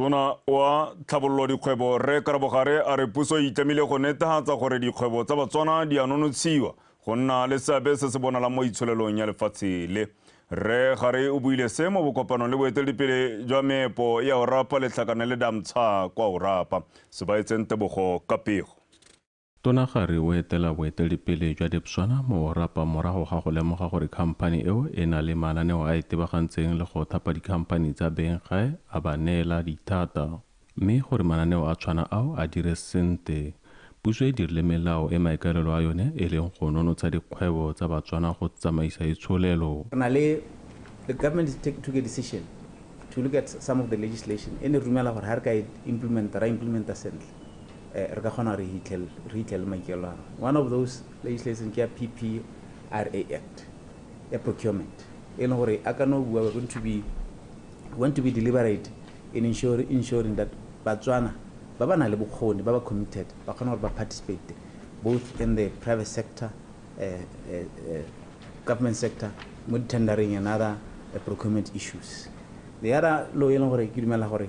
Tona wa Tlhabololo Dikgwebo Rre Karabogare a re puso e itlamile go netehatsa gore dikgwebo tsa Batswana di a nonotshiwa go nna le seabe se se bonalang mo itsholelong ya lefatshe le. Rre Gare o buile se mo bokopanong le boeteledipele jwa meepo ya Orapa letlhakane le Damtsha kwa Orapa se ba etseng tebogo ka pego. Tona Kgari o etela boeteledipele jwa Debswana mo Orapa morago ga go lemoga gore khamphani eo e na le mananeo a itebagantseng le go thapa dikhamphani tsa beng gae a ba neela dithata. Mme gore mananeo a tshwana ao a dire sente, puso e dirile melao e maikaelelo a yone e leng go nonotsha dikgwebo tsa Batswana go tsamaisa itsholelo. Re na le, the government is take, took a decision to look at some of the legislation e ne re dumela gore ha re ka e implementa, ra implementa sentle. re ka kgona re hitlhele maikelo a one of those legislation ke ya PPRA Act ya procurement e leng gore a ka no bua going to be want to be deliberate in ensuring, ensuring that batswana ba ba na le bokgoni ba ba committed ba kgona gore ba participate both in the private sector uh, uh, uh, government sector mo tendering and other uh, procurement issues the other law e leng gore ke dumela gore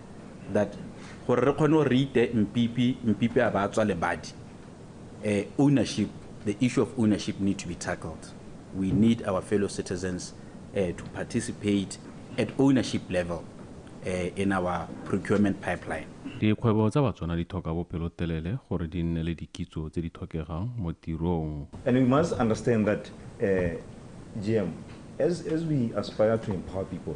that gore re kgone gore re ite Mpipi, Mpipi a ba a tswa lebadi, eh, ownership, the issue of ownership need to be tackled. We need our fellow citizens eh, to participate at ownership level eh, in our procurement pipeline. Dikgwebo tsa Batswana di tlhoka bopelotelele gore di nne le dikitso tse di tlhokegang mo tirong. And we must understand that, eh, GM, as, as we aspire to empower people,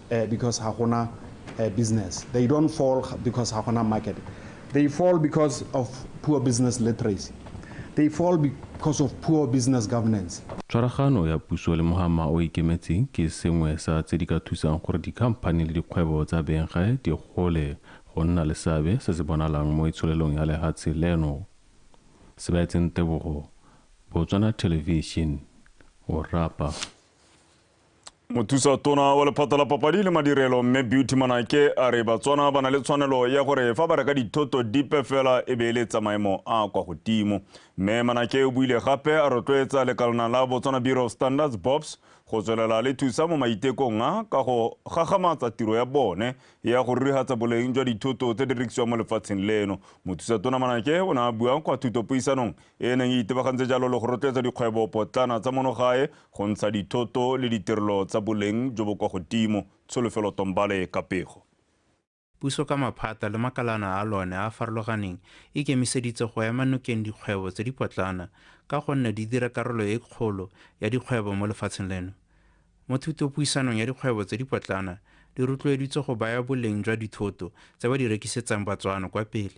because ga gona business. They don't fall because ga gona market. They fall because of poor business literacy. They fall because of poor business governance. Tshwaragano ya puso le mohama o ikemetseng ke sengwe sa tse di ka thusang gore dikhamphani le dikgwebo tsa Benga di gole go nna le seabe se se bonalang mo itsholelong ya lehatshe leno. Sebaetseng Tebogo, Botswana Television, o rapa. Mothusa tona wa lephata la papadi le madirelo mme Beauty Manake a re Batswana ba na le tshwanelo ya gore fa ba reka dithoto dipe fela e be e le tsa maemo a kwa godimo. Mme Manake o buile gape a rotloetsa lekalana la Botswana Bureau of Standards BOPS go tswelela le thusa mo maitekong a ka go gagamatsa tiro ya bone ya go rurigatsa boleng jwa dithoto tse di rekisiwang mo lefatsheng leno. Mothusa tona Manake o ne a bua kwa thutopuisanong e e neng e itebagantse jalo le go rotloetsa dikgwebo potlana tsa monogae Go ntsha dithoto le ditirelo tsa boleng jo bo kwa godimo, Tsholofelo Tombale, Kapego. Puso ka maphata le makalana a lone a a farologaneng e kemiseditse go ema nokeng dikgwebo tse di potlana ka gonne di dira karolo e kgolo ya dikgwebo mo lefatsheng leno. Mo thutopuisanong ya dikgwebo tse di potlana di rotloeditswe go baya boleng jwa dithoto tse ba di rekisetsang Batswana kwa pele.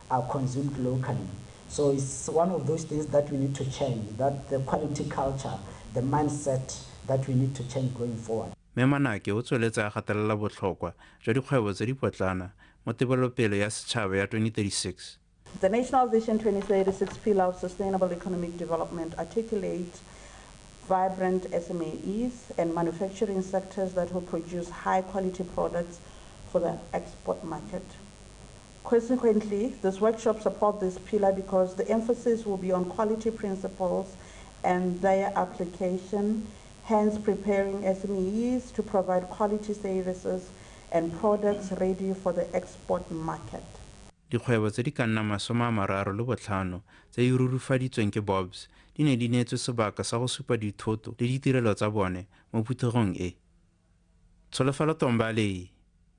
are consumed locally. So it's one of those things that we need to change, that the quality culture, the mindset that we need to change going forward. Mme Manake o tsweletse a gatelela botlhokwa jwa dikgwebo tse dipotlana mo tebelopele ya setšhaba ya 2036. The National Vision 2036 Pillar of Sustainable Economic Development articulates vibrant SMEs and manufacturing sectors that will produce high quality products for the export market. Consequently, this workshop support this pillar because the emphasis will be on quality principles and their application, hence preparing SMEs to provide quality services and products ready for the export market. Dikgwebo tse di ka nnang masome a mararo le botlhano tse di rurufaditsweng ke BOBS di ne di neetswe sebaka sa go supa dithoto le ditirelo tsa bone mo phuthegong e. Tsholofelo Tombali,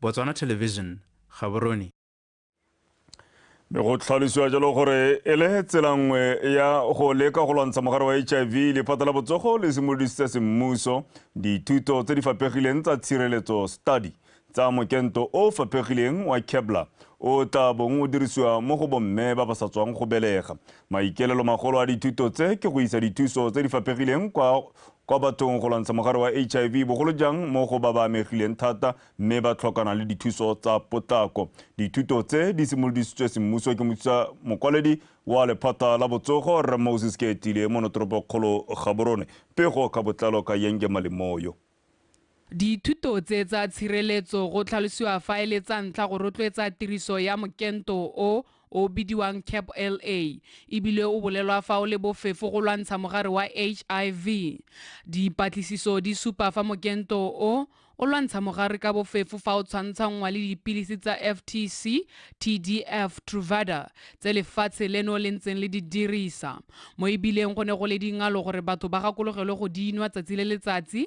Botswana Television, Gaborone. Mme go tlhalosiwa jalo gore e le tsela nngwe ya go leka go lwantsha mogare wa hiv lephata la botsogo le simolodisitse semmuso dithuto tse di fapegileng tsa tshireletso study tsa mokento o fapegileng wa kebla o tla bong o dirisiwa mo go bomme ba ba sa tswang go belega maikaelelo magolo a dithuto tse ke go isa dithuso tse di fapegileng kwa kwa bathong go lwantsha mogare wa HIV bogolo jang mo go ba ba amegileng thata mme ba tlhokana le dithuso tsa potlako. Dithuto tse di simolodisitswe semmuso ke mothusa mokwaledi wa lephata la botsogo Rre Moses Keatlile mo notoropokgolo Gaborone. Pego ka botlalo ka Yenge Malemoyo. Dithuto tse tsa tshireletso go tlhalosiwa fa e le tsa ntlha go rotloetsa tiriso ya mokento o o bidiwang CAPLA e bile o bolelwa fa o le bofefo go lwantsha mogare wa HIV. Dipatlisiso di supa fa mokento o o lwantsha mogare ka bofefo fa o tshwantshanngwa le dipilisi tsa FTC, TDF, Truvada tse lefatshe leno le ntseng le di dirisa, mo e bileng go ne go le dingalo gore batho ba gakologelwe go di nwa tsatsi le letsatsi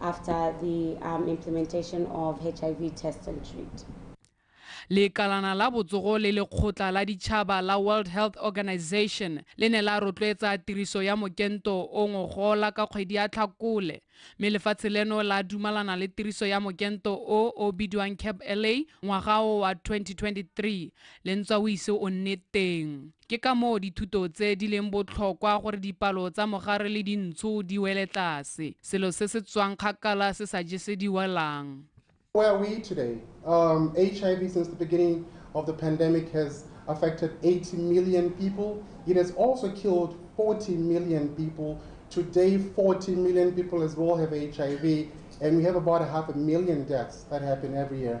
after the um, implementation of HIV test and treat. lekalana la botsogo le lekgotla la ditšhaba la world health organization le ne la rotloetsa tiriso ya mokento o ngogola ka kgwedi ya tlhakole mme lefatshe leno la dumalana le tiriso ya mokento o o bidiwang cap la ngwaga o wa 2023 le ntswa o ise o nne teng Ke ka moo dithuto tse di leng botlhokwa gore dipalo tsa mogare le dintsho di wele tlase. Selo se se tswang kgakala se sa jesediwelang. Where are we today? Um, HIV since the beginning of the pandemic has affected 80 million people. It has also killed 40 million people. Today, 40 million people as well have HIV, and we have about half a million deaths that happen every year.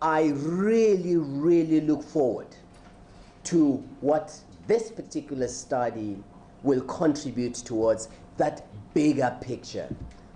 I really, really look forward to what this particular study will contribute towards that bigger picture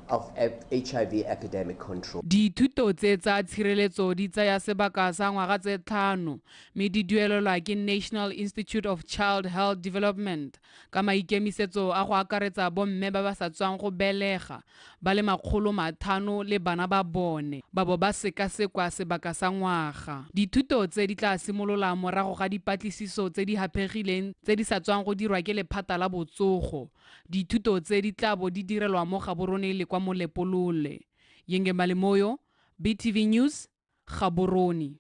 of HIV epidemic control. Dithuto tse tsa tshireletso di tsaya sebaka sa ngwaga tse tlhano mme di duelelwa ke National Institute of Child Health Development ka maikemisetso a go akaretsa bomme ba ba sa tswang go belega ba le makgolo mathano le bana ba bone ba bo ba sekasekwa sebaka sa ngwaga. Dithuto tse di tla simolola morago ga dipatlisiso tse di haphegileng tse di sa tswang go dirwa ke lephata la botsogo. Dithuto tse di tla bo di direlwa mo Gaborone le kwa Molepolole. Yengemali Moyo, BTV News, Gaborone.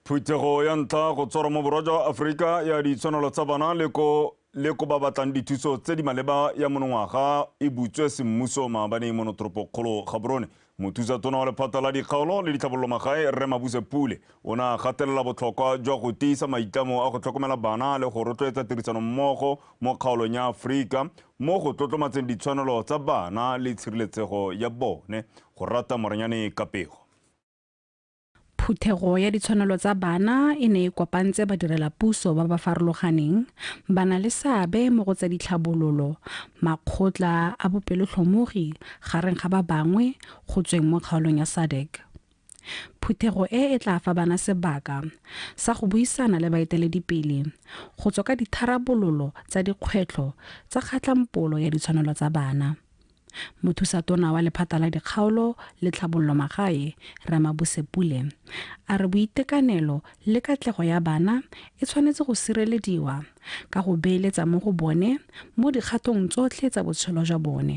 Phuthego ya ntlha go tshwarwa mo borwa jwa Aforika ya ditshwanelo tsa bana le ko le ko ba batlang dithuso tse di maleba ya monongwaga e butswe semmuso maabane mo notoropokgolo gaborone mothusa tona wa lephata la dikgaolo le ditlhabololo magae rre mabuse pule o ne a gatelela botlhokwa jwa go tiisa maitlamo a go tlhokomela bana le go rotloetsa tirisano mmogo mo kgaolong ya aforika mo go tlotlomatseng ditshwanelo tsa bana le tshireletsego ya bone, go rata Moranyane ka pego. Phuthego ya ditshwanelo tsa bana e ne e kopantse badirelapuso ba ba farologaneng, bana le seabe mo go tsa ditlhabololo, makgotla a bopelotlhomogi, gareng ga ba bangwe, go tsweng mo kgaolong ya SADC. Phuthego e e tla fa bana sebaka sa go buisana le baeteledipele go tswa ka ditharabololo tsa dikgwetlho tsa kgatlampolo ya ditshwanelo tsa bana. Mothusatona wa lephata la dikgaolo le tlhabololo magae, Rre Mabuse Pule, a re boitekanelo le katlego ya bana e tshwanetse go sirelediwa ka go beeletsa mo go bone mo dikgatong tsotlhe tsa botshelo jwa bone.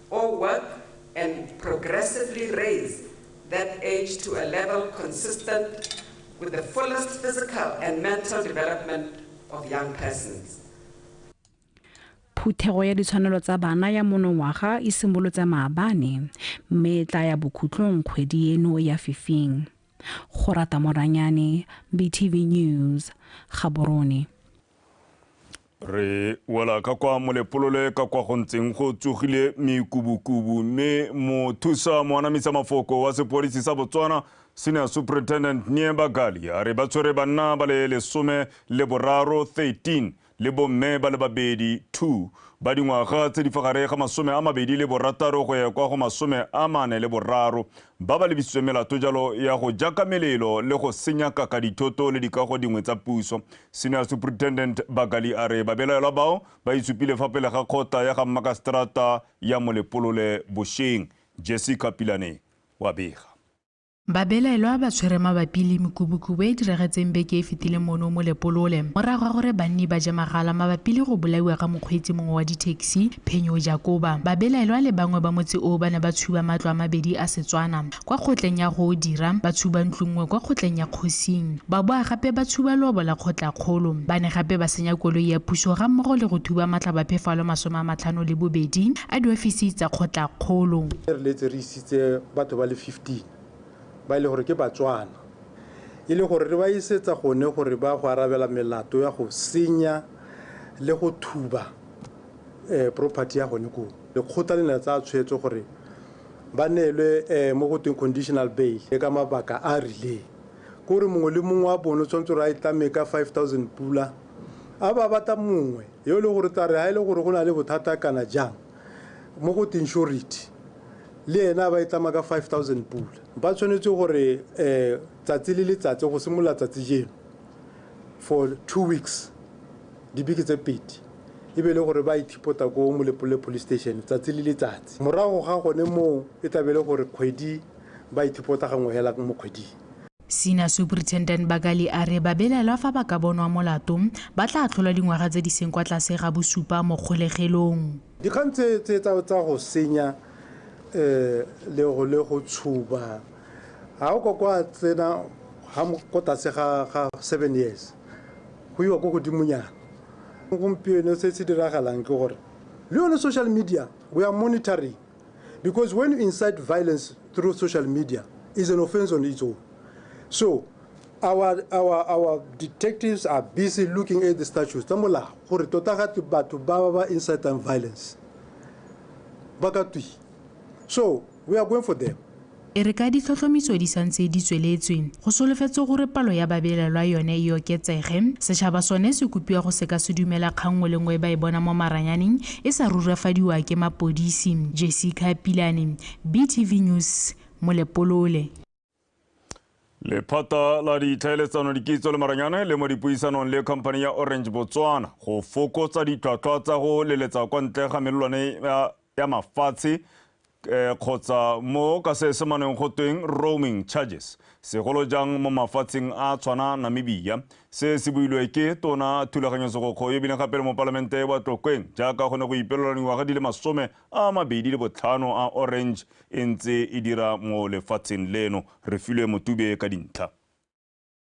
or work and progressively raise that age to a level consistent with the fullest physical and mental development of young persons. phuthego ya ditshwanelo tsa bana ya monongwaga e simolotse maabane mme e tla ya bokhutlong kgwedi eno ya fifing go rata moranyane btv news gaborone re wela ka kwa molepolole ka kwa go ntseng go tsogile mekubukubu mme mothusa moanamisa mafoko wa sepodisi sa botswana senior superintendent nie bagali a re ba tshwere banna ba le lesome le boraro 13 le bomme ba le babedi 2 ba dingwaga tse di fa gare ga masome a mabedi le borataro go ya kwa go masome a mane le boraro ba ba lebisitsweng melato jalo ya go jaka melelo le go senya kaka dithoto le dikago dingwe tsa puso. Senior Superintendent Bakali a re babelaelwa bao ba itsupile fa pele ga kgota ya ga mmakaseterata ya Molepolole bosheng. Jessica Pilane wa bega. Babelaelwa ba tshwere mabapi le mekubukubu e e diragetseng beke e fetileng mono Molepolole morago ga gore banni ba je magala mabapi le go bolaiwa ga mokgweetsi mongwe wa dithekisi. Mossi, Phenyo Jakoba, babelaelwa le bangwe ba motse oo ba ne ba tshuba matlo a mabedi a Setswana kwa kgotleng ya go dira, ba tshuba ntlo nngwe kwa kgotleng ya kgosing, ba boa gape ba tshuba leobo la kgotlakgolo. Ba ne gape ba senya koloi ya puso ga mmogo le go thuba matlhabaphefalo masome a matlhano le bobedi a diofisi tsa kgotlakgolo. Re feleletse re isitse batho ba le 15 ba e leng gore ke Batswana e le gore re ba isetsa gone gore ba go arabela melato ya go senya le go thuba property ya gone koo lekgotla le ne la tsaya tshwetso gore ba neelwe um mo go tweng conditional bail le ka mabaka a a rileng ko re mongwe le mongwe wa bone o tshwanetse gore a e tlame ka five thousand pula a ba batla mongwe yo e leng gore tla re ga e le gore go na le bothata kana jang mo go tweng surety le ena ba e tlama ka five thousand pula ba tshwanetse gore um tsatsi le letsatsi go simolola tsatsi jeno for two weeks dibeke tse pedi e be e le gore ba ithipota ko molepolole police station tsatsi le letsatsi morago ga gone moo e tlabe e le gore kgwedi ba ithipota gangwe hela mo kgweding Senior Superintendent Bakali a re babelaelwa fa ba ka bonwa molato ba tla atlholwa dingwaga tse di seng kwa tlase ga bosupa mo kgolegelong. Dikgang tse tse tsa tsa go senya eh le go le go tshuba ha o ka kwa tsena ha mo- ko tlase ga ga 7 years Go iwa ko godimonyana. Gompieno se se diragalang ke gore le yone social media we are monitoring because when you incite violence through social media is an offense on its own. So our, our, our detectives are busy looking at the statutes tsa molao gore tota ga batho ba ba ba incitang violence ba ka twi so We are going for them. E re ka ditlhotlhomiso di santse di tsweletswe, go solofetswe gore palo ya babelelwa yone e oketsege. Setšhaba sone se kopiwa go se ka se dumela kgang nngwe le nngwe e ba e bona mo maranyaneng e sa rurafadiwa ke mapodisi. Jessica Pilane, BTV News, Molepolole. lephata la ditlhaeletsano dikitso le maranyane le mo dipuisanong le company ya orange botswana go fokotsa ditlhwatlhwa tsa go leletsa kwa ntle ga melelwane ya mafatshe eh, kgotsa mo ka se semaneng go tweng roaming charges segolo jang mo mafatsheng a tshwana namibia se se builwe ke tona thulaganyosegokgo ebile gape le mo palamente wa tlokweng jaaka go ne go ipelelwa dingwaga di le masome a mabedi le botlhano a Orange e ntse e dira mo lefatsheng leno. Refilwe Motube ka dintlha.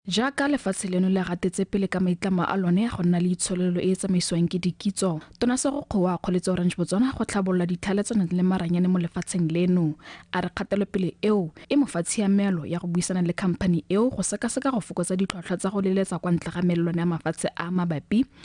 Jaaka lefatshe leno le gatetse pele ka maitlamo a lone a go nna le itshololelo e e tsamaisiwang ke dikitso, Tona Sego Kgowa a kgoletse Orange Botswana go tlhabolola ditlhaeletsano le maranyane mo lefatsheng leno. A re kgatelopele eo e mo fa tshiamelo ya go buisana le khamphani eo go sekaseka go fokotsa ditlhwatlhwa tsa go leletsa kwa ntle ga melelwane ya mafatshe a a mabapi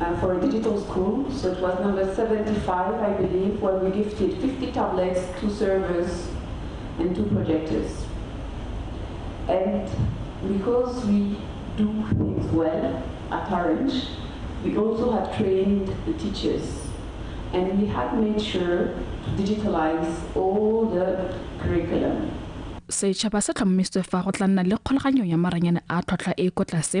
uh, for a digital school. So it was number 75, I believe, where we gifted 50 tablets, two servers, and two projectors. And because we do things well at Orange, we also have trained the teachers. And we have made sure to digitalize all the curriculum. setšhaba se tlhomamisitswe fa go tla nna le kgolaganyo ya maranyane a tlhwatlhwa e ko tlase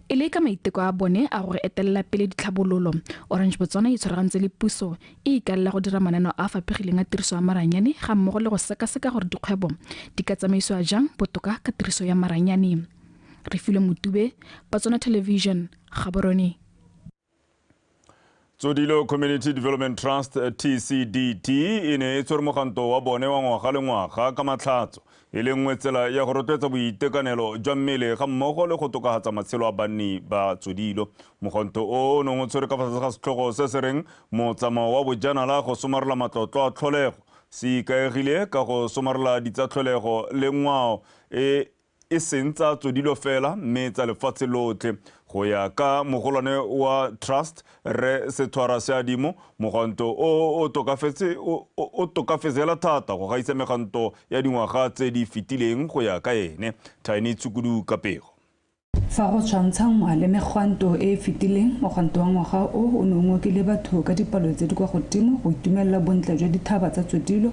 E le ka maiteko a bone a go etelela pele ditlhabololo, Orange Botswana e itshwaragantse le puso, e ikaelela go dira mananeo a a fapegileng a tiriso ya maranyane ga mmogo le go sekaseka gore dikgwebo di ka tsamaisiwa jang botoka ka tiriso ya maranyane. Refilwe Motube, Botswana Television, Gaborone. tsodilo community development trust tcdt e ne e tshwere moganto wa bone wa ngwaga le ngwaga ka matlhatso e le nngwe tsela ya go rotloetsa boitekanelo jwa mmele ga mmogo le go tokagatsa matshelo a banni ba tsodilo moganto o o neng o tshwere ka fa tlase ga setlhogo se se reng motsamao wa bojanala go somarela matlotlo a tlholego se ikaegile ka go somarela ditsatlholego le ngwao e e seng tsa tsodilo fela mme tsa lefatshe lotlhe go ya ka mogolwane wa trust re setshwara seadimo moganto o o tokafetse hela thata go gaisa meganto ya dingwaga tse di fetileng go ya ka ene tiny tshukudu kapego Fa go tshwantshangwa le megwanto e e fetileng, mogwanto wa ngwaga o o ne o ngokile batho ka dipalo tse di kwa godimo go itumelela bontle jwa dithaba tsa tsodilo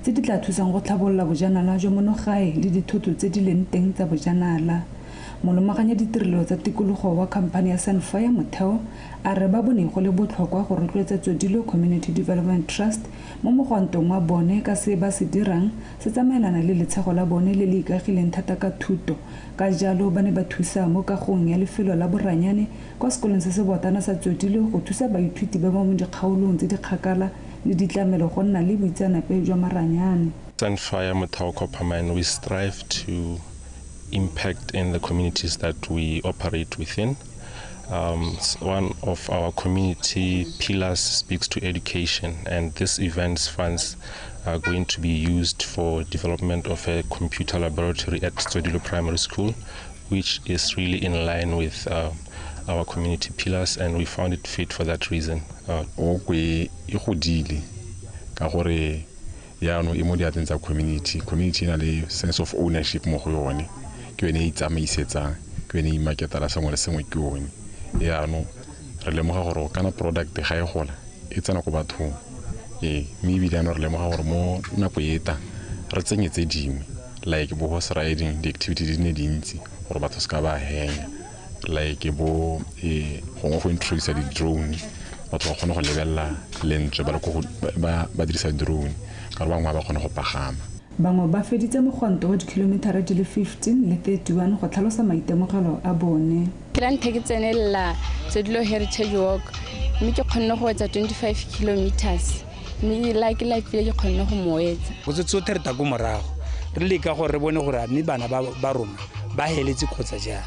tse di tla thusang go tlhabolola bojanala jwa monogae le dithoto tse di leng teng tsa bojanala. Molomaganya ditirelo tsa tikologo wa khamphane ya Sunfire Motheo a re ba bone go le botlhokwa go rotloetsa Tsodilo Community Development Trust mo mogwantong wa bone ka se ba se dirang se tsamaelana le letshego la bone le le ikagileng thata ka thuto ka jalo ba ne ba thusa mo kagong ya lefelo la boranyane kwa sekolong se se boatana sa Tsotilo go thusa baithuti ba ba mo dikgaolong tse di kgakala le ditlamelo go nna le boitseanape jwa maranyane. Sunfire Motheo Coppermine we strive to impact in the communities that we operate within. Um, one of our community pillars speaks to education and this event's funds are going to be used for development of a computer laboratory at Tsodilo Primary School which is really in line with uh, our community pillars and we found it fit for that reason uh, okwe e godile ka gore yaanong e mo diatleng tsa community community e na le sense of ownership mo go yone ke yone e itsamaisetsang ke yone e imaketala sengwe le sengwe ke yone yaanong re lemoga gore o kana product ga e gola e tsena ko bathong ee mme ebile ano re lemoga gore mo nako e ta re tsenye tse dingwe like bo horse riding di-activity di ne dintsi gore batho se ka ba henya like bo ee gongwe go introduce di-drone batho ba kgone go lebelela lentswe ba le ko ba dirisa drone ka re bangwe ba ba kgone go pagama Bangwe ba feditse mogonto wa dikhilometara di le 15 le 31 go tlhalosa maitemogelo a bone. ke la nthha ke tsenelela sedilo heritage walk mme ke kgonne go etsa 25 kilometers mme la ke la file ke kgonne go mo etsa go se tsothe re tako morago re leka gore re bone gore mme bana ba rona ba heletse kgotsa jang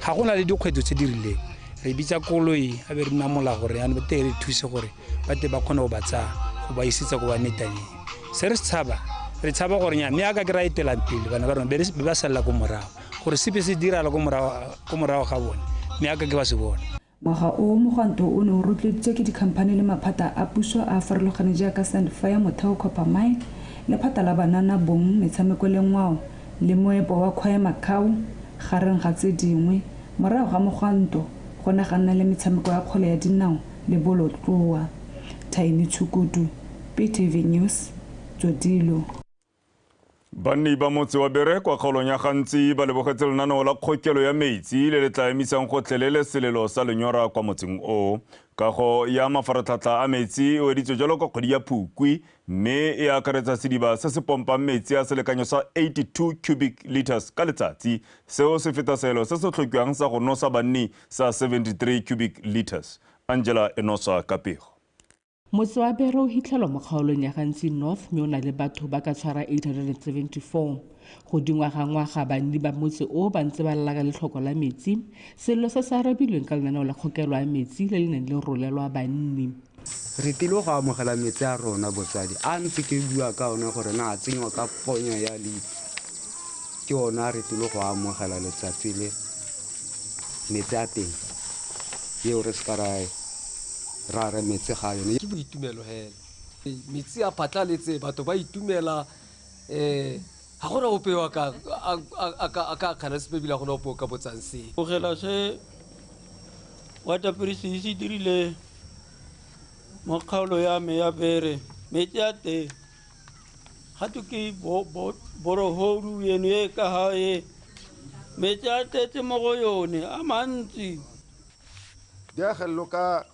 ga go na le dikgwetlho tse di rileng re bitsa koloi a be re nna mola gore yana ba teng re thuse gore ba te ba kgone go ba tsaya go ba isetsa ko ba metaneng se re se tshaba re tshaba gore nya mme a ka ke ra etelang pele bana ba rona be ba salela ko morago gore sepe se dirala ko morago ga bone mme a ka ke ba se bone ngwaga o mogwanto o ne o rotloeditswe ke dikhamphane le maphata a puso a a farologane jaaka sandfire motheo copper mine lephata la banana bong metshameko le ngwao le moepo wa kgwae macau gareng ga tse dingwe morago ga mogwanto go ne ga nna le metshameko ya kgwele ya dinao le bolotloa thaini tshukudu ptv news tsodilo Banni ba motse wa Bere kwa kgaolong ya Gantsi ba lebogetse lenaneo la kgokelo ya metsi le le tla emisang gotlhelele selelo sa lenyora kwa motseng o. Kago ya mafaratlhatlha a metsi e weditswe jalo ka kgwedi ya Phukwi mme e akaretsa sediba se se pompang metsi a selekanyo sa 82 cubic liters ka letsatsi. Seo se feta seelo se se tlhokiwang sa go nosa banni sa 73 cubic liters. Angela Enosa ka pego. Motse wa Bere o hitlhelwa mo kgaolong ya Gantsi North mme o na le batho ba ka tshwara 874. Go dingwa ga ngwaga banni ba motse o ba ntse ba lalaka letlhoko la metsi, sello se se arabilweng ka lenaneo la kgokelo ya metsi le le neng le rolelwa banni. Re tlile go amogela metsi a rona botswadi a ntse ke bua ka one gore na a tsenywa ka ponya ya lipi ke one a re tlile go amogela letsatsi le metsi a teng eo re se ka ra Ra re metse ga yone. Ke boitumelo hela. Metsi a phatlaletse, batho ba itumela. Eh. Ga go na ope yo a ka akgana sepe ebile ga go na ope o ka botsang sepe. Tlogela se Waterprising se dirile mo kgaolo ya me ya Bere. Metsi a teng ga twe ke borohodu eno e ka fa e, metsi a tletse mo go yone a mantsi. diagelelo ka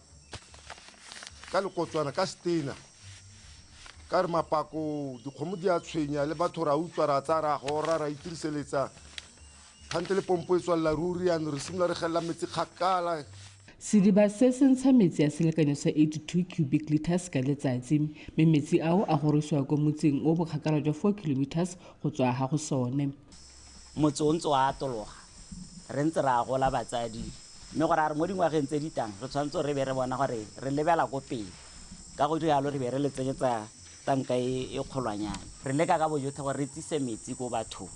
ka lekotswana ka stena ka re mapako dikgomo di a tshwenya le batho ra utswa ra tsaya ra gora ra itiriseletsa kgante le pompo e tswalela ruri yano re simolola re gelela metsi kgakala Sediba se se ntsha metsi a selekanyo sa 82 cubic liters ka letsatsi mme metsi ao a gorisiwa kwa motseng o bokgakala jwa 4 kilometers go tswa ha go sone. Motse o ntse o atologa re ntse re agola batsadi mme go raya gore mo dingwageng tse di tang re tshwanetse re be re bona gore re lebela ko pele, ka go dira jalo re be re le tsenyetsa tanka e e kgolwanyane. Re leka ka bojotlhe gore re tsise metsi ko bathong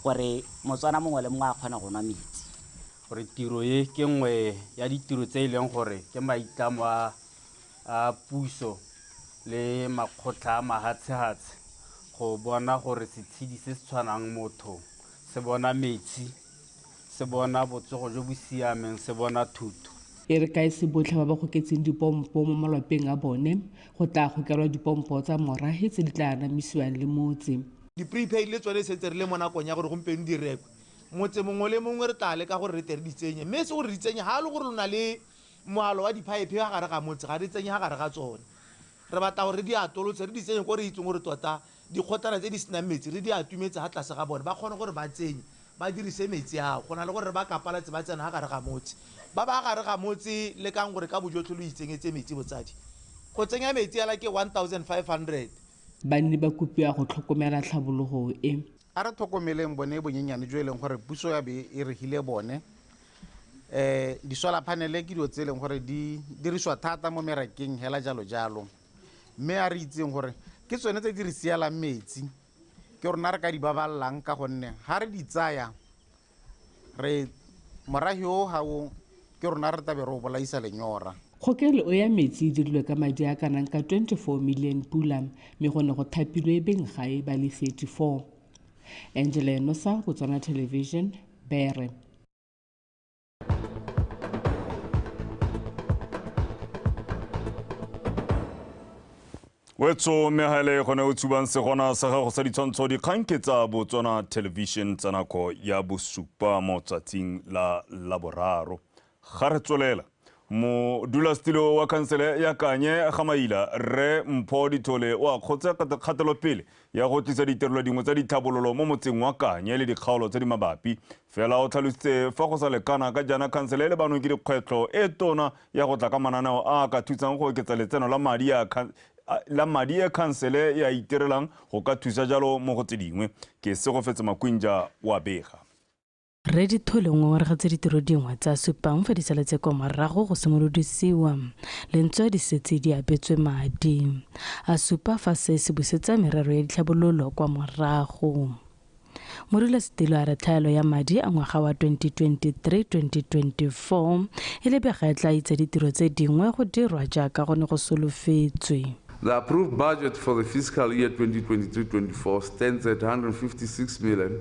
gore Motswana mongwe le mongwe a kgone go nwa metsi. Gore tiro e ke nngwe ya ditiro tse e leng gore ke maitlamo a a puso le makgotla a mahatshehatshe go bona gore setshedi se se tshwanang motho se bona metsi, se bona botsogo jo bo siameng, se bona thuto. E re ka e se botlhe ba ba goketseng dipompo mo malwapeng a bone, go tla gokelwa dipompo tsa morahe tse di tla anamisiwang le motse. Di-prepaid le tsone e setse re le mo nakong ya gore gompieno di rekwe. Motse mongwe le mongwe re tla leka gore re tle re di tsenye, mme e se gore re di tsenye ha e le gore lo na le Moalo wa diphaephe ka gare ga motse ga re tsenye ka gare ga tsone. Re batla gore re di atolotse, re di tsenye ko re itseng gore tota dikgotlana tse di senang metsi re di atumetse fa tlase ga bone, ba kgone gore ba tsenye, ba dirise metsi ao, go na le gore re ba kapalatse ba tsena ka gare ga motse. Ba ba ka gare ga motse, lekang gore ka bojotlhe lo itsenyetse metsi. Botsadi, Go tsenya metsi fela ke 1500. Banni ba kopiwa go tlhokomela tlhabologo e. A re tlhokomeleng bone bonyenyane jo e leng gore puso ya be e re file bone, um di-solar panele ke dilo tse e leng gore di dirisiwa thata mo merakeng hela jalo jalo mme a re itseng gore ke tsone tse di re sialang metsi ke rona re ka di babalelang ka gonne ga re di tsaya re morahi o ga o ke rona re tabe re o bolaisa lenyora kgokelo ya metsi e dirilwe ka madi a kanang ka 24 million pula mme go ne go thapilwe beng gae ba le 34 angela enosa botswana television bere wetso mme ga ele gone o tshubang segona sa gago sa ditshwantsho dikgang ke tsa botswana television tsa nako ya bosupa mo tsatsing la laboraro ga re tswelela modulasetilo wa khansele ya kanye ga maila rre mpho dithole o a kgotse kgatelopele ya go tlisa ditirelo dingwe tsa ditlhabololo mo motseng wa kanye le dikgaolo tse di mabapi fela o tlhalositse fa go sa lekana ka jaana khansele le banong ke dikgwetlho e tona ya go tla ka mananeo a ka thusang go oketsa letseno la madi a la madi e khansele ya itirelang go ka thusa jalo mo go tse dingwe ke se go fetse makwinja wa bega Rre Dithole o ngongoregatse ditiro dingwe tsa supang fa disale tse kwa morago go simolodisiwa lentswe di setse di abetswe madi a supa fa se se busetsa merero ya ditlhabololo kwa morago. Modulasetilo a re tlhaelo ya madi a ngwaga wa 2023-2024 e lebega e tla itsa ditiro tse dingwe go dirwa jaaka go ne go solofetswe. The approved budget for the fiscal year 2023-24 stands at 156 million.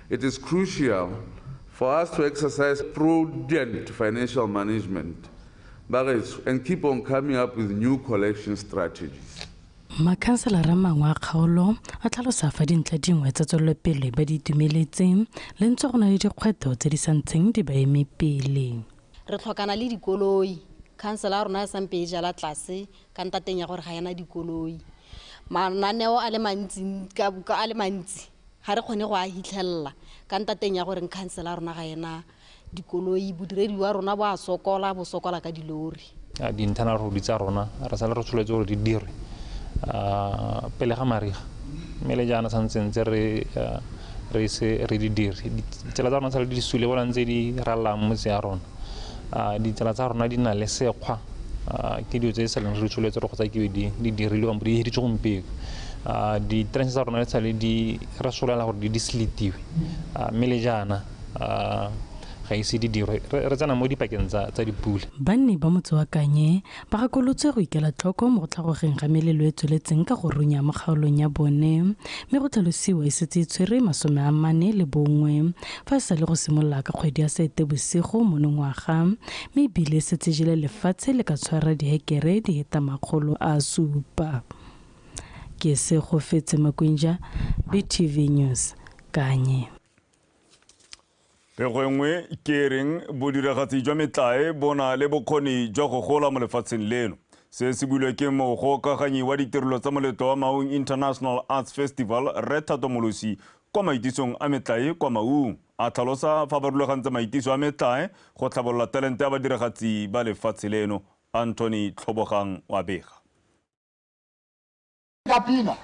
It is crucial for us to exercise prudent financial management, bagetso, and keep on coming up with new collection strategies. Makhanselara a mangwe a kgaolo a tlhalosa fa dintlha dingwe tsa tswelelopele ba di itumeletse le ntse go na le dikgwetlho tse di sa ntseng di ba eme pele. Re tlhokana le dikoloi. Khansela ya rona e sampe e jala tlase ka ntateng ya gore ga e na dikoloi. Mananeo a le mantsi a le mantsi Ga re kgone go a hitlhelela ka ntateng ya gore nkhansela rona ga ena dikoloi, bodiredi wa rona bo a sokola, bo sokola ka dilori. Dintana rodi tsa rona re sale re tsholetse gore di dirwe pele ga mariga mme le jaana santse ntse re re ise re di dire. Ditsela tsa rona sale di sule bona ntse di rallang motse ya rona. a ditsela tsa rona di na le sekgwa ke dilo tse e sa leng re tsholetse re kgotsa ke di di dirilwe kampo di hiritse gompieno a di-trance tsa rona le tshale di re solela gore di di slitiwe mme le jaana ga ise di dirwe re tsena mo dipakeng tsa dipula banni ba motse wa kanye Gakolotswe go ikela tlhoko mo go tlhagogeng ga melelo e tsweletseng ka go runya mo kgaolong ya bone mme go tlhalosiwa e setse e tshwere masome a mane le bongwe fa e sa le go simolola ka kgwedi ya Seetebosigo monongwaga mme e bile e setse jele lefatshe le ka tshwara dihekere di heta makgolo a supa. Ke Segofetse Makwinja, BTV News, Kanye. Pego e nngwe ke e reng bodiragatsi jwa metlae bo na le bokgoni jwa go gola mo lefatsheng leno. Se se builwe ke mogokaganyi wa ditirelo tsa moletlo wa Maung International Arts Festival, Rre Thato Molosi, kwa maitisong a metlae kwa Maung. A tlhalosa fa ba rulagantse maitiso a metlae go tlhabolola talente ya badiragatsi ba lefatshe leno. Anthony Tlhobogang wa bega. ka pina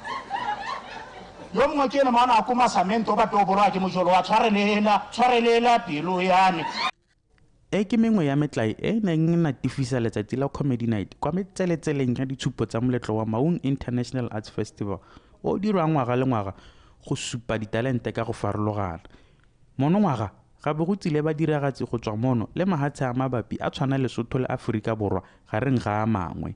yo mongwe ke ene maana a ko masamento ba toboroa ke mojolo wa tshwarelela tshwarelela pelo yane e ke mengwe ya metlae e e neng e natifisa letsatsi la comedy night kwa metseletseleng ya ditshupo tsa moletlo wa maung international arts festival o dirwang ngwaga le ngwaga go supa ditalente ka go farologana monongwaga ga bo go tsile ba diragatsi go tswa mono le mahatshe a mabapi a tshwana lesotho le aforika borwa gareng ga a mangwe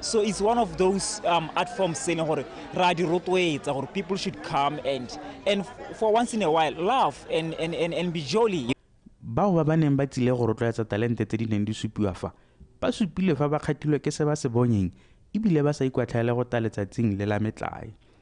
so it's one of those um, art forms se e leng gore re a di rotloetsa gore people should come and and for once in a while laugh and, and, and, and be jolly bao ba ba neng ba tsile go rotloetsa talente tse di neng di supiwa fa ba supile fa ba kgatilwe ke se ba se bonyeng ebile ba sa ikwatlhaele go ta letsatsing le la metlae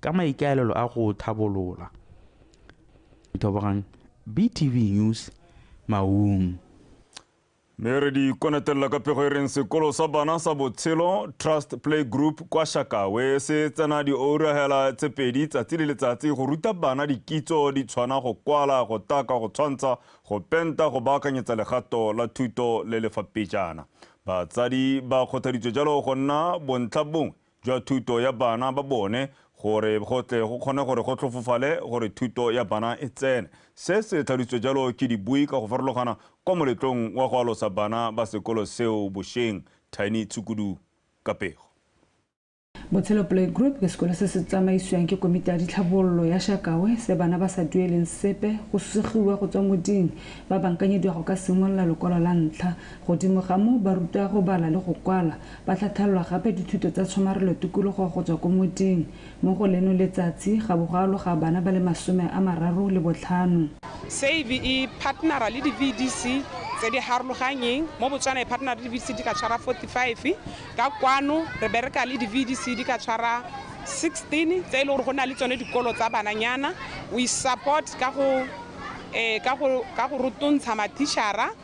ka maikaelelo a go thabolola. Ithobogang BTV News Maung. Mme re di konetelela ka pego e reng sekolo sa bana sa botshelo Trust Play Group kwa Shakawe se tsena diourahela tse pedi tsatsi le letsatsi go ruta bana dikitso di tshwana go kwala, go taka, go tshwantsha, go penta, go baakanyetsa legato la thuto le lefa pejana. Batsadi ba kgothaditswe jalo go nna bontlha bongwe jwa thuto ya bana ba bone gore go tle go kgone gore go tlhofofale gore thuto ya bana e tsene. Se se tlhalositswe jalo ke dibui ka go farologana kwa moletlong wa go alosa bana ba sekolo seo bosheng, Tiny Tshukudu ka pego. Botshelo Playgroup ke sekolo se se tsamaisiwang ke komiti ya ditlhabololo ya Shakawe se bana ba sa dueleng sepe go susegiwa go tswa moding ba bankanyediwa go ka simolola lokwalo la ntlha. Godimo ga moo ba rutwa go bala le go kwala Ba tla thalwa gape dithuto tsa tshomarelo tikologo go tswa ko moting. Mo go leno letsatsi, ga bo go aloga bana ba le masome a mararo le botlhano. Save e partnera le di-VDC tse di harologanyeng. Mo Botswana e partnera le di-VDC di ka tshwara 45. Ka kwano re bereka le di-VDC di ka tshwara 16 tse e le gore go na le tsone dikolo tsa bananyana. We support ka go ka go ka go rotontsha mathišara.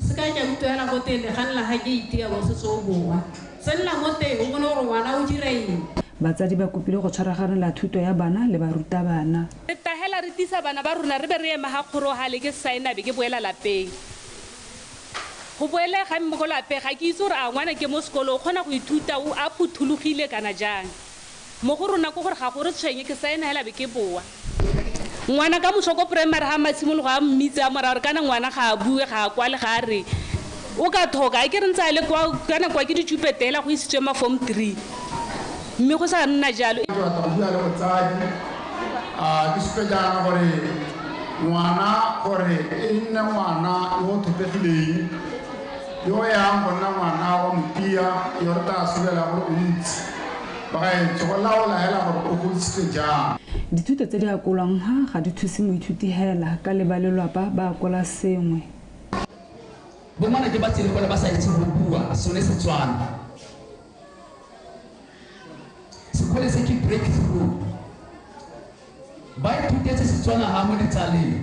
Sekai ke a utlwela go teng legang la ga keiti ya Bososoo Bowa. Tsenela mo teng o bone gore ngwana o dira eng. Batsadi ba kopile go tshwaraganela thuto ya bana le barutabana. Re tahela re tisa bana ba rona re be re ema ga kgorohale ke saena be ke boela lapeng. Go boele ga mme ko lape ga ke itse gore a ngwana ke mo sekolo o kgona go ithuta o a phuthologile kana jang. Mo go rona ke gore ga go re tshwenye, ke saena hela be ke boa. Ngwana ka moso ko primary ha Masimologo a mmitse a mo raya gore kana ngwana ga a bue, ga a kwale, ga a re o ka thoka. A ke re ntse a le kwa, kana kwa ke ditšupete hela go isitswe ma form three mme go sa nna jalo. Ke batla go bua le motsadi, a ke supe jaana gore ngwana gore e nne ngwana yo o thopegileng, yo o yang go nna ngwana wa motia, yo re tla sobelang gore o ntsi. Bagaetsho, go laola hela gore o godisitswe jang. Dithuto tse di akolwang ha ga di thuse moithuti hela ka le ba lelwapa ba akola sengwe. Bongwana ke ba tsene kwa le ba sa itse go bua sone Setswana. Sekole se ke breakthrough. Ba ithutetse Setswana ha mo ditsaleng.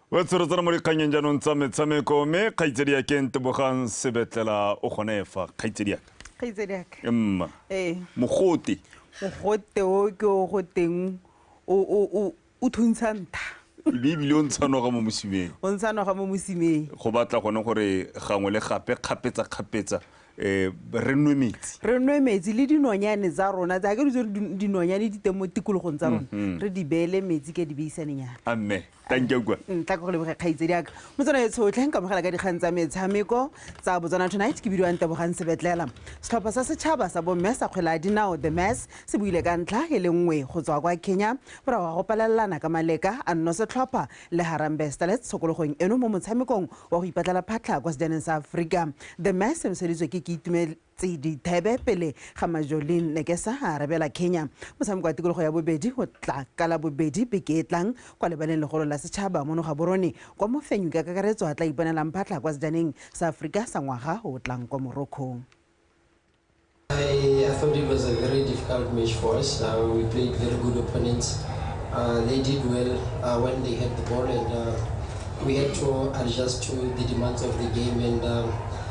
wa tshorotsana mo dikganyeng jaanong tsa metshameko mme kgaitsedi ya keng tebogang sebetlela o gone fa kgaitsedi yaka kgaitsedi yaka mma ee mogote mogote o ke o go teng o thuntsha ntha ebe ebile o ntshanoga mo mosimeng o ntshanoga mo mosimeng go batla gone gore gangwe le gape kgapetsa kgapetsa um re nwe metsi re nwe metsi le dinonyane tsa rona tsa ke ditso dinonyane di teng mo tikologong tsa rona mm-hmm. re di beele metsi ka di beisanenyana amme thanka kwa mm, tla go leboge kgaitsedi aka mo tsona e tshotlhe nka mogela ka dikgang tsa metshameko tsa botswana tonight ke bidiwang tebogang sebetlela setlhopha sa setšhaba sa bomme sa kgwela a dinao the mass se buile ka ntlha e le nngwe go tswa kwa kenya morago ga go palelelana ka maleka a nno setlhopha le harambe starlets tshokologong eno mo motshamekong wa go ipatlela phatlha kwa sejaneng sa aforika the mass e noseditswe ke ke tse di thebe pele ga Majolin Nekesa a arabela Kenya. Motshameko wa tikologo ya bobedi o tla ka la bobedi beke e tlang kwa lebaleng legolo la setšhaba mo Nogaborone kwa mofenyi ka kakaretso a tla iponelang phatlha kwa sejaneng sa Aforika sa ngwaga o o tlang kwa Morocco. I, I thought it was a very difficult match for us. Uh, we played very good opponents. Uh, they did well uh, when they had the ball, and uh, we had to adjust to the demands of the game. And um,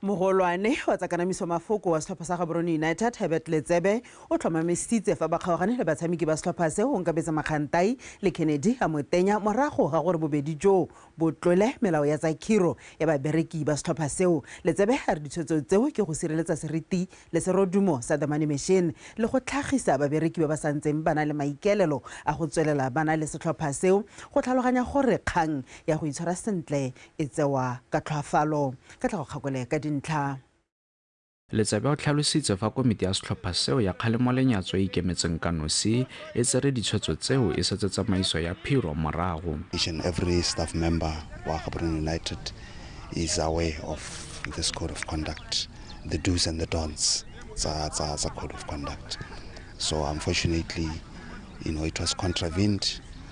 Mogolwane wa tsa kanamiso mafoko wa setlhopha sa Gaborone United, Herbert Letsebe, o tlhomamisitse fa ba kgaogane le batshameki ba setlhopha se, Onkabetse Makgantai le Kennedy Amotenya morago ga gore bobedi joo bo tlole melao ya tsa khiro ya babereki ba setlhopha seo. Letsebe a re ditshwetso tseo ke go sireletsa seriti le serodumo sa The Money Machine le go tlhagisa babereki ba ba santseng ba na le maikaelelo a go tswelela ba na le setlhopha seo, go tlhaloganya gore kgang ya go itshwara sentle e tsewa ka tlhwaafalo. Ka tla go kgakole ka dintlha. Letsebe o tlhalositse fa komiti ya setlhopha seo ya kgalemo-lenyatso e ikemetseng ka nosi e tsere ditshwetso tseo e setse tsamaiso ya phiro morago. Each and every staff member wa Gaborone United is aware of this code of conduct, the do's and the don'ts tsa tsa tsa code of conduct. So unfortunately, you know, it was contravened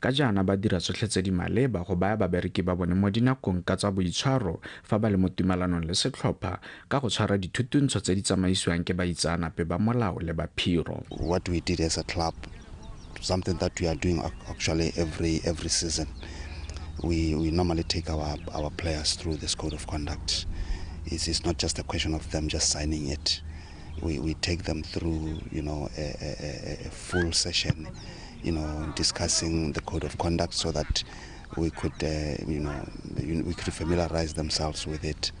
Ka jaana ba dira tsotlhe tse di maleba go baya babereki ba bone mo dinakong ka tsa boitshwaro fa ba le mo tumalanong le setlhopha ka go tshwara dithutuntsho tse di tsamaisiwang ke baitsaanape ba molao le ba phiro. What we did as a club, something that we are doing actually every every season, we we normally take our our players through this code of conduct. It's, it's not just a question of them just signing it. We we take them through, you know, a, a, a full session. you know, discussing the code of conduct so that we could, uh, you know, we could familiarize themselves with it.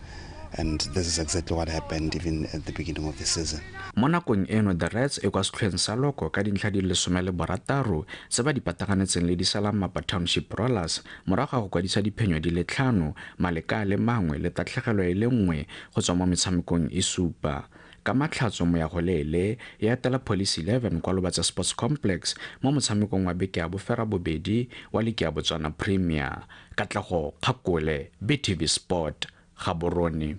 And this is exactly what happened even at the beginning of the season. mo nakong eno the rats e kwa setlhoeng sa loko ka dintlha di le some le borataro se ba di pataganetseng le disalamapa township rollers morago ga go kwadisa diphenyo di le tlhano maleka a le mangwe le tatlhegelo e le nngwe go tswa mo metshamekong e supa Ka Matlhatso Moyagoleele e atela Police Eleven kwa Lobatse Sports Complex mo motshamekong wa beke ya boferabobedi wa liki ya Botswana Premier. Katlego Kgakole, BTV Sport, Gaborone.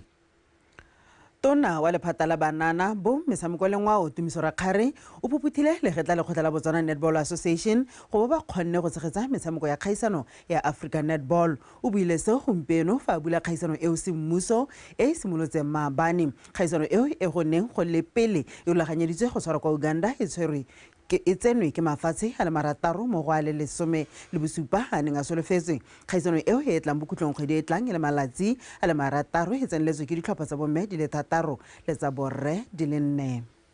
Tona wa lephata la banana, bo, metshameko le ngwao Tumiso Rakgare o phophuthile legetla lekgotla la Botswana Netball Association go bo ba kgonne go tshegetsa metshameko ya kgaisano ya Africa Netball. O buile seo gompieno fa a bula kgaisano eo semmuso e e simolotseng maabane. Kgaisano eo e go neng go le pele e rulaganyeditswe go tshwarwa kwa Uganda e tshwerwe ke e tsenwe ke mafatshe a le marataro mo go a le lesome le bosupa a a neng a solofetswe. Kgaisano eo e e tlang bokhutlong kgwedi e tlang e le malatsi a le marataro e tseneletswe ke ditlhopha tsa bomme di le thataro le tsa borre di le nne.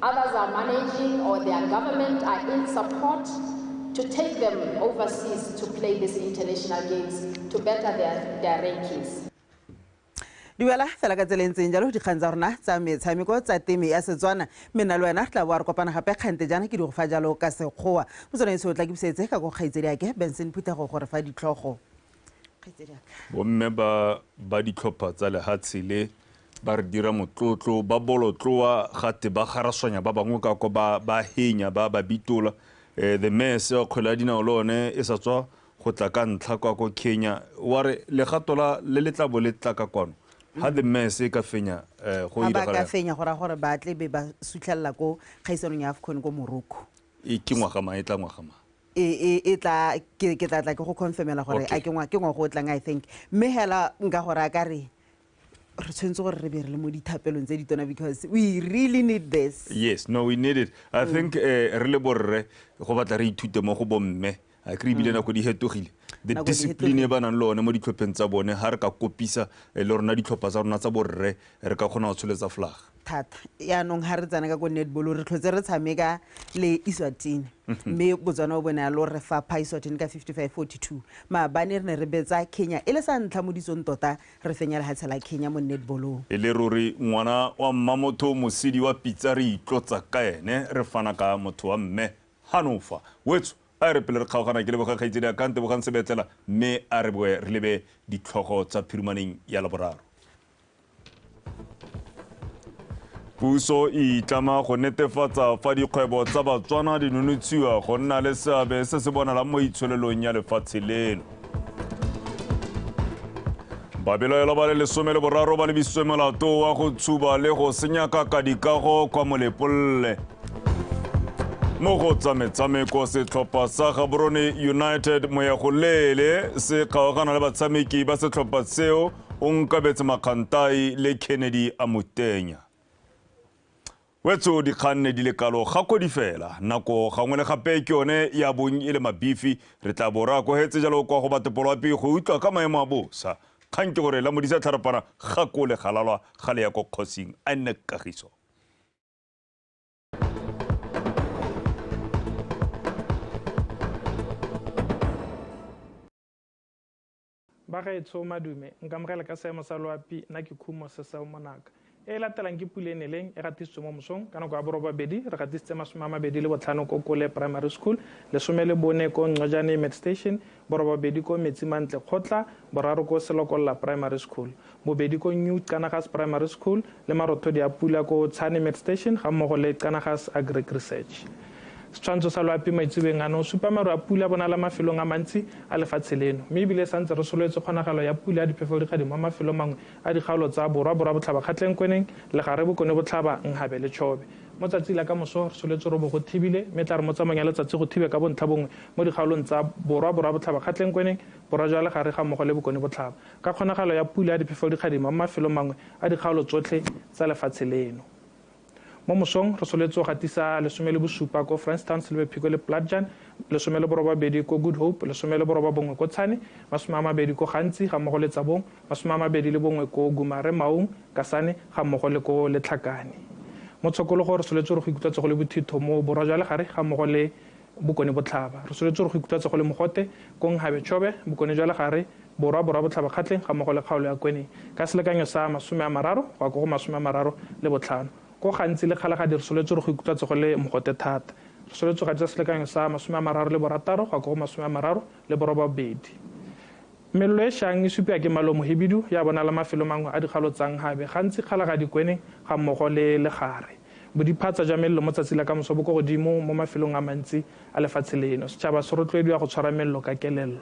Others are managing or their government are in support to take them overseas to play these international games to better their, their rankings. dumela fela ka tsela e ntseng jalo dikgang tsa rona tsa metshameko tsa teme ya setswana mme nna le wena tla boa re kopana gape kgante jaana ke di go fa jalo ka sekgowa mo tsone se o tla ke busetse ka ko kgaitsedi ake benson phuthego gore fa ditlhogo bomme ba ba ditlhopha tsa lehatshe le Ba re dira motlotlo, ba bolotloa, ga te ba garaswanya ba bangwe ka kwa, ba ba henya, ba ba bitola. Eh, the mayor se wa kgwele ya dinao le one e sa tswa go tla ka ntlha kwa ko Kenya, wa re legato la le le tla bo le tla ka kwano, ha the mayor se e ka fenya, eh, go Ha ba ka diragala eng? fenya go raya gore ba tle be ba sutlhelela ko kgaisanong ya AFCON ko Morocco. E ke ngwaga mang, e tla ngwaga mang? e e e tla ke ke tla tla ke go confirmela gore Okay. a ke ngwa ke ngwago o tlang i think mme hela nka go raya ka re re tshwanetse gore re be re le mo dithapelong tse ditona because we really need this yes no we need it i mm. think eh, re le borre go batla re ithute mo go bomme a kry ebile mm. nako di hetogile the discipline e ba nang le one mo ditlhopheng tsa bone ga re ka kopisa eh, le rona ditlhopha tsa rona tsa borre re ka kgona go tsholetsa flag thata yaanong ga re tsena ka ko netball re tlhotse re tshameka le iswatini mhm. mme botswana o bone ya lo re fapha iswatini ka 55 42 maabane re ne re betsa kenya e le sa ntlha mo ditsong tota Re fenya lehatshe la Kenya mo netball-ong. E le ruri ngwana wa mmamotho mosidi wa pitsa re itlotsa ka ene re fana ka motho wa mme hanofa wetsho a e re pele re kgaogana ke leboga kgaitsedi a ka ntebogang sebetlela mme a re boe re lebe ditlhogo tsa phirumaneng ya laboraro. Puso e itlama go netefatsa fa dikgwebo tsa Batswana di nonotshiwa go nna le seabe se se bonalang mo itsholelong ya lefatshe leno. Babelaelwa ba le lesome le boraro ba lebisitswe molato wa go tshuba le go senya kaka dikago kwa Molepolle. Mo go tsa metshameko setlhopha sa Gaborone United moya go leele se kgaogana le batshameki ba setlhopha seo Onkabetse Makgantai le Kennedy Amutenya. Wetso dikgang ne di le kalo gakodi fela, nako gangwe le gape ke yone ya bong e le mabifi, re tla bo re akogetse jalo kwa go batopoloapi go utlwa ka maemo a bosa. Kgang ke gore la Modisa Tlharapana ga ko le galalwa ga le ya ko kgosing. A nne Kagiso. Bagaetsho, madume, nkamogele ka seemo sa loapi, nna ke khumo se seo monaka. E e latelang ke pula e neleng e gatisitswe mo mosong ka nako ya borobabedi, re gatisitse masome a mabedi le botlhano ko Kole Primary School, lesome le bone ko Ngcojane Med Station, borobabedi ko Metsi Mantle Kgotla, boraro ko Selokolola Primary School. bobedi ko New Qanagas Primary School le marothodi a pula ko Tshane Med Station ga mmogo le Qanagas Agric Research. Setshwantsho sa loapi maitsebeng ano o supa maru a pula bonala mafelong a mantsi a lefatshe leno, mme ebile sa ntse re sololetse kgonagalo ya pula ya diphefogodikgadi mo mafelong mangwe a dikgaolo tsa Borwa, Borwa Botlhaba Kgatlengkweneng, Legare Bokone Botlhaba, Nhabe le Chobe. Mo tsatsi la ka moso re sololetse gore bo go thibile, mme e tla re mo tsamaong ya letsatsi go thibe ka bontlhabongwe mo dikgaolong tsa Borwa, Borwa Botlhaba Kgatlengkweneng, Borwa jwa Legare ga mmogo le Bokone Botlhaba. Ka kgonagalo ya pula ya diphefelodikgadima mo mafelong mangwe a dikgaolo tsotlhe tsa lefatshe leno. Mo mosong re soletse go gatisa lesome le bosupa ko Francistown, Silverpeak le Platjan, lesome le borobabedi ko Good Hope, lesome le borobabongwe ko Tshane, masome a mabedi ko Gantsi ga mmogo le Tsabong, masome a mabedi le bongwe ko Gumare, Maung, Kasane ga mmogo le ko Letlhakane. Mo Tshokologo re soletse gore go ikutlwa tsogo le bothitho mo Borwa jwa Legare ga mmogo le Bokone Botlhaba. Re soletse gore go ikutlwatsa go le mogote ko Nghabe Chobe, Bokone jwa Legare, Borwa, Borwa Botlhaba Kgatleng ga mmogo le kgaolo ya Kweneng ka selekanyo sa masome a mararo go ya ko go masome a mararo le botlhano. Ko gantsi le Kgalagadi re soletse gore go ikutlwatsa go le mogote thata. Re soletse go atisa selekanyo sa masome a mararo le borataro go ya ko go masome a mararo le borobabedi. Melelo e shang e supiwa ke Malomo Hibidu ya bonala mafelo mangwe a dikgalo tsa Nghabe, gantsi Kgalagadi, Kweneng ga mmogo le Legare. Bodiphatsa jwa mello mo tsatsi la kamoso bo ko godimo mo mafelong a mantsi a lefatshe leno. Setšhaba se rotloediwa go tshwara mello ka kelello.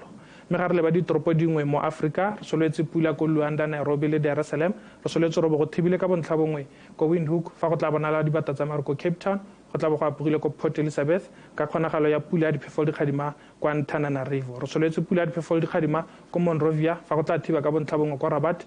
Mme ga re leba ditoropo dingwe mo Afrika, re solwetse pula ko Luanda, Nairobi le Dar es Salem, re solwetse robo go thibile ka bontlhabongwe ko Windhoek, fa go tla bonala dibata tsa maru ko Cape Town, go tla bo go apogile ko Port Elizabeth, ka kgonagalo ya pula ya diphefoledikgadima ko Antananarivo. Re solwetse pula ya diphefoledikgadima ko Monrovia, fa go tla thiba ka bontlhabongwe ko Rabat,